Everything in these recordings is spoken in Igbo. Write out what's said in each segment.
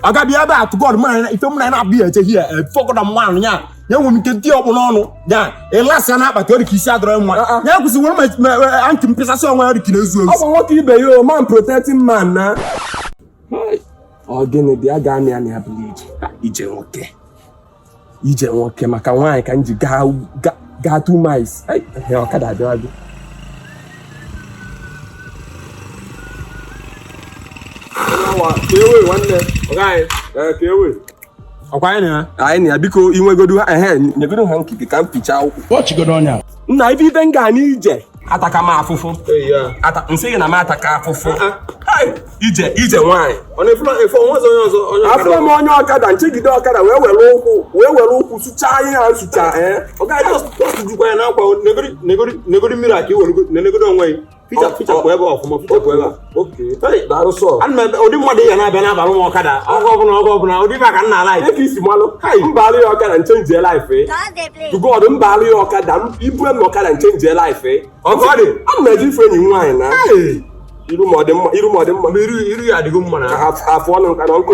aga bịa ebe a to God mụ na ife mụ na ya na-abụ ya eche hie fọkọda mmanụ ya ya nwere ike dị ọkpụ n'ọnụ ya ịlasị ya n'akpati ọ dị ka isi adịrọ mma Ah, ah. ya kwụsị were ma- ma ma- antị mpịsasị onwe ya ọ dị ka na-ezu ọ ezu bụ nwoke ibe ya o man protecting man na Hai, ọ gịnị dị a ga-amị amị ya bụla ije ije nwoke ije nwoke maka nwaanyị ka m ji gaa ga- gaa two miles Ai, ehe, ọkada abịawago ọkwa anyị na ya anyị na ya biko inwegodu ha ehe nyegodu hanky ka m fichaa ụkwụ Watch good on ya. nna ife ife m ga n'ije ataka m afụfụ m sị gị na m ataka afụfụ ije ije nwaanyị afụrọ m onye ọkada m chegide ọkada wee were ụkwụ wee were ụkwụ sụchaa ihe a sụchaa ee negodi mmiri a ka i were negodi onwe gị ụdị mmadụ ya na-abịa na-agbalụ m ọkada oge ọbụla oge ọbụla ụdị ife ka nna ala ka isi malụ mbalụ ya ọkada m change life to God mbalụ ya ọkada i bue m ọkada m change life oge ọ dị ana m eje ịfụ enyi nwaanyị na iru m ọ dị mma iru m ọ dị mma iru ya adịgo mma na afọ ọnụ nka na ọkụ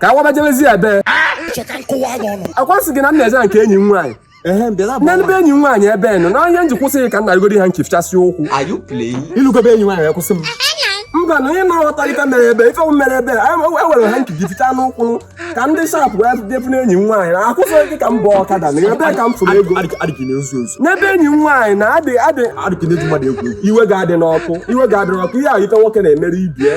ka a waba jebezie ebe ọkwa m sị gị na m na-eje nke enyi m nwaanyị n'ebe enyi m nwaanyị ebe nọ na ihe m ji kwụsị gị ka m narigodi hanky fichasị ụkwụ i lugo be enyi nwaanyị akwụsị m mba na onye na-aghọtarịta mere ebe ife m mere ebe e were hanky gị fichaa m ụkwụ ka m dị sharp wee depụ n'enyi m nwaanyị na akwụsị gị ka m bụ ọkada na ebe ka m fụrụ ego n'ebe enyi m nwaanyị na adị adị iwe gị adịna ọkụ iwe gị adịna ọkụ ihe ahụ ife nwoke na-emere ibe ya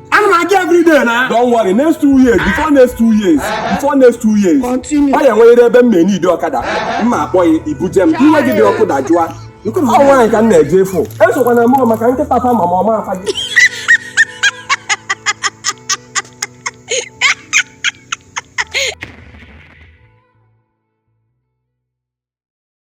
ana m aga everyday na don't worry next two years before next two years before next two years Continue. ọ ya enwerịrị ebe m na-eneedi ọkada m ma akpọ gị i buje m iwe gị dị ọkụ dajụọ ọ nwaanyị ka m na-eje ịfụ esokwana mụ o maka nkịta fa ma ma ọma afa gị